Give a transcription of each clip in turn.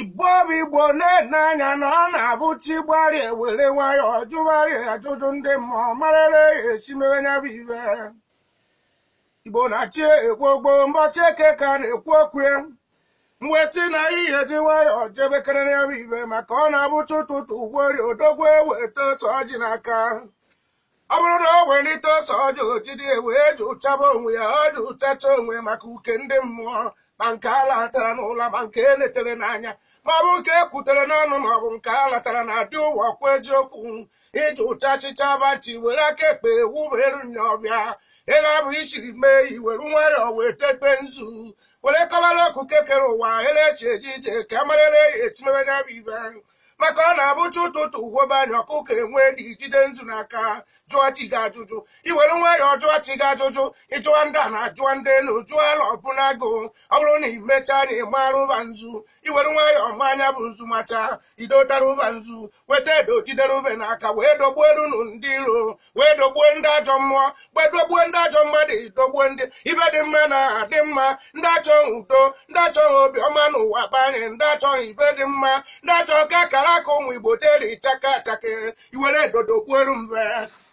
igbo bụ igbo na-ene anya na ọ na-abụ chi gbarie were nwayọọ jụgharịa ajụjụ ndị mmụọ marịrị ya esi mewe nya bụ ibe igbo na-achị ekwu ogbo mbọchị eke ka a na-ekwu okwu ya mwetị na ihe ji nwayọọ jebekere ya bụ ibe maka ọ na-abụcha ụtụtụ ugwori odogwu eweta ose ọjị n'aka ọ bụrụ na o welite ose ọjị o jide wee jụchaba onwe ya ọ jụchacha onwe maka uke ndị mmụọ ma nke a latara n'ụla ma nke e netere n'anya ma ọ bụ nke e kwutere n'ọnụ ma ọ bụ nke a latara na adị ụwa kwụ eziokwu ị jụchachịcha bachi were aka ekpe wuberu nya ọbịa ịga bụ ichiri mee iwere nwayọọ wee tete nzu were kọbara okuke kere ụwa elechi eji ije ka amarịrị ya esi mebe ya bụ ibe maka ọ na-abụcha ụtụtụ ugwobe anya ọkụkọ ewee jide nzu n'aka jụọ chi gị ajụjụ iwere nwayọọ jụọ chi gị ajụjụ ịjụọ ndị ana jụọ ndị elu jụọ ala ọbụla agụụ ọ bụrụ na imechaa na ịmara ụba nzu iwere nwayọọ maa nya bụ nzu macha idotara ụba nzu weta edo jidere ube n'aka wee dogbuo erunu ndị iro wee dogbuo ndị ajọ mmụọ wee dogbuo ndị ajọ mmadụ idogbuo ndị ibe dị mma na adị mma ndị achọghị udo ndị achọghị obi ọma n'ụwa banye ndị achọghị ibe dị mma ndị achọghị ka akara aka ụmụ igbo teri chaka achake iwere edo dogbuoru mbe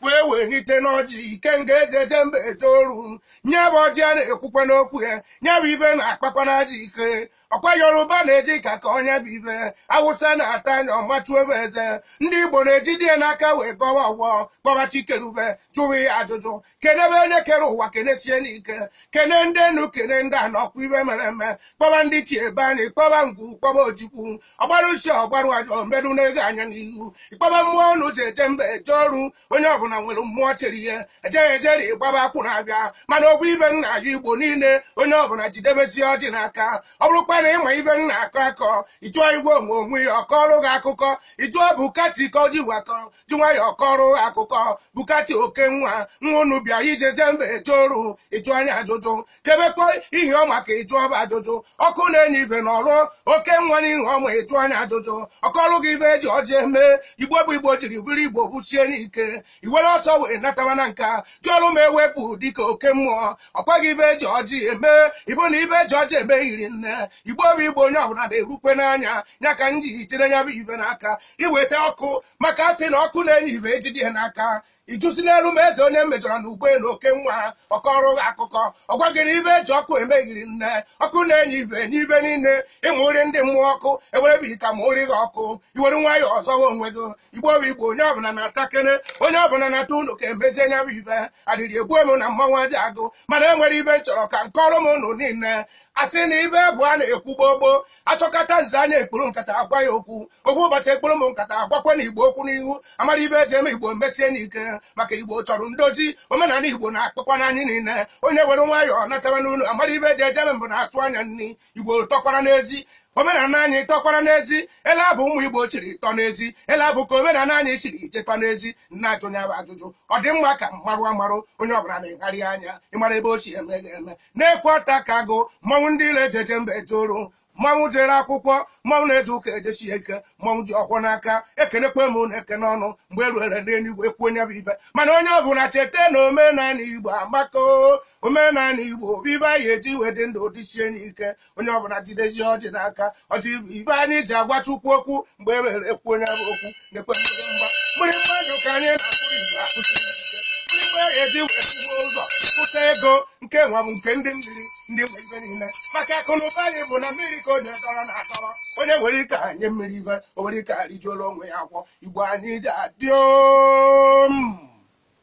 wee welite n'ọjị ikenga eji eje mba eje oru nya bụ ọjị a na-ekwukwa n'okwu ya nya bụ ibe na-akpakwa n'aja ike ọkwa yoruba na-eji aka akọ nya bụ ibe awụsa na-ata nya ọ machuo be eze ndị igbo na-ejide ya n'aka wee gọwa ọfọ kpọba chikerube jụwa ya ajụjụ kenebe onye kere ụwa kenechie n'ike kene ndị enu kene ndị ana ọkwa ibe mere eme kpọba ndị chi ebe anyị kpọba ngwu kpọba ojukwu ọgbara usi ọgbarụ ajọ mbedu na-ego anya n'ihu ịkpọba mmụọ unu ji eje mba eje oru onye ọbụla nwere mmụọ chere ihe ejeghị ejeri ịgbaba akwụ na-abịa mana ọ bụ ibe nna ya igbo niile onye ọbụla jidebesi ọjị n'aka ọ bụrụkwa na ịma ibe m na-akọ akọ ịjụọ igwe onwe onwe ya ọ kọọrụ gị akụkọ ịjụọ bukati ka o ji wakọ ji nwayọọ kọrọ akụkọ bukati oke nwa nwa unu bịa ije jee mba eje oru ịjụọ nya ajụjụ kebekwa ihe ọma ka ịjụọ ba ajụjụ ọkụ na-enye ibe na ọrụ oke nwa n'ihe ọma ịjụọ nya ajụjụ ọ kọọrụ gị ibe eji ọjị eme igbo bụ igbo jiri bụrụ igbo buchie n'ike iwere ọsọ wee nataba na nka ji ọrụ ma ewepụ dịka oke mmụọ ọ gwa gị ibe eji ọjị eme ibu na ibe eji ọjị eme yiri nne igbo bụ igbo onye ọbụla na-erukwe n'anya ya ka m ji jide ya bụ ibe n'aka iweta ọkụ maka asị na ọkụ na-enye ibe ejide ya n'aka ijụsi n'elu ma eze onye mejọrọ na ugbe na oke nwa ọkọrụ gị akụkọ ọ gwa gịrị ibe eji ọkụ eme rinne ọkụ na-enye ibe enye ibe niile ịmụ nri ndị mmụọ ọkụ ewerebe ita ma ụrị gị ọkụ i were nwayọ azọwa onwe gị igbo bụ igbo onye ọbụla natakene onye ọbụla nata ụnọ ka emezie nya bụ ibe adịrị egbu emu na mmanwụ aja agụ mana e nwere ibe nchọrọ ka nkọọrụ m unu niile asị na ibe bụ a na-ekwu gbogbo asọkata nze anya ekpuru nkata agwa ya okwu ọ bụ ụbọchị ekpuru m nkata agwakwa na igbo okwu n'ihu amara ibe eji eme igbo mesie n'ike maka igbo chọrọ ndozi omenala igbo na-akpakwa n'anyị niile onye were nwayọọ nataba n'ụlọ amara ibe eji ejeme mbụ na-atụ anya nri igbo tọkwara n'ezi omenala anyị tọkwara n'ezi ele abụ ụmụ igbo siri tọ n'ezi ele abụ ka omenala anyị siri je tọ n'ezi na-ajụ nya bụ ajụjụ ọ dị mma ka mmarụ amarụ onye ọbụla na-egharị anya ịmara ebe o si eme ga-eme nekwe ọtakagụ mmanwụ dị ile ejeje mba eje oru mmanwụ jere akwụkwọ mmanwụ na-eje ụka ejesi ya ike mmanwụ ji ọfọ n'aka ekenekwa m unu ekene ọnụ mgbe eruere n'eluigwe kwuo nya bụ ibe mana onye ọ bụla cheta na omenala igbo amaka o, omenala igbo bụ ibe anyị ji wee dị ndụ dịsie n'ike onye ọ bụla jidezi ọjị n'aka ọjị bụ ibe anyị ji agwa chukwu okwu mgbe eruere kwuo nya bụ okwu nekwe mgbịrịmgba mgbịrịmgba ndụ ka anyị na-akụrụ igbo akụsiri ike mgbịrịmgba ya eji wee kwụgbuo ụzọ pụta ego nke nwa bụ nke ndị mmiri ndị nwe ibe niile maka akụ na ụba anyị bụ na mmiri ka onye dọrọ na atọrọ onye nwere ike enye mmiri ibe o nwere ike arijuola onwe ya afọ ibe anyị ji adị om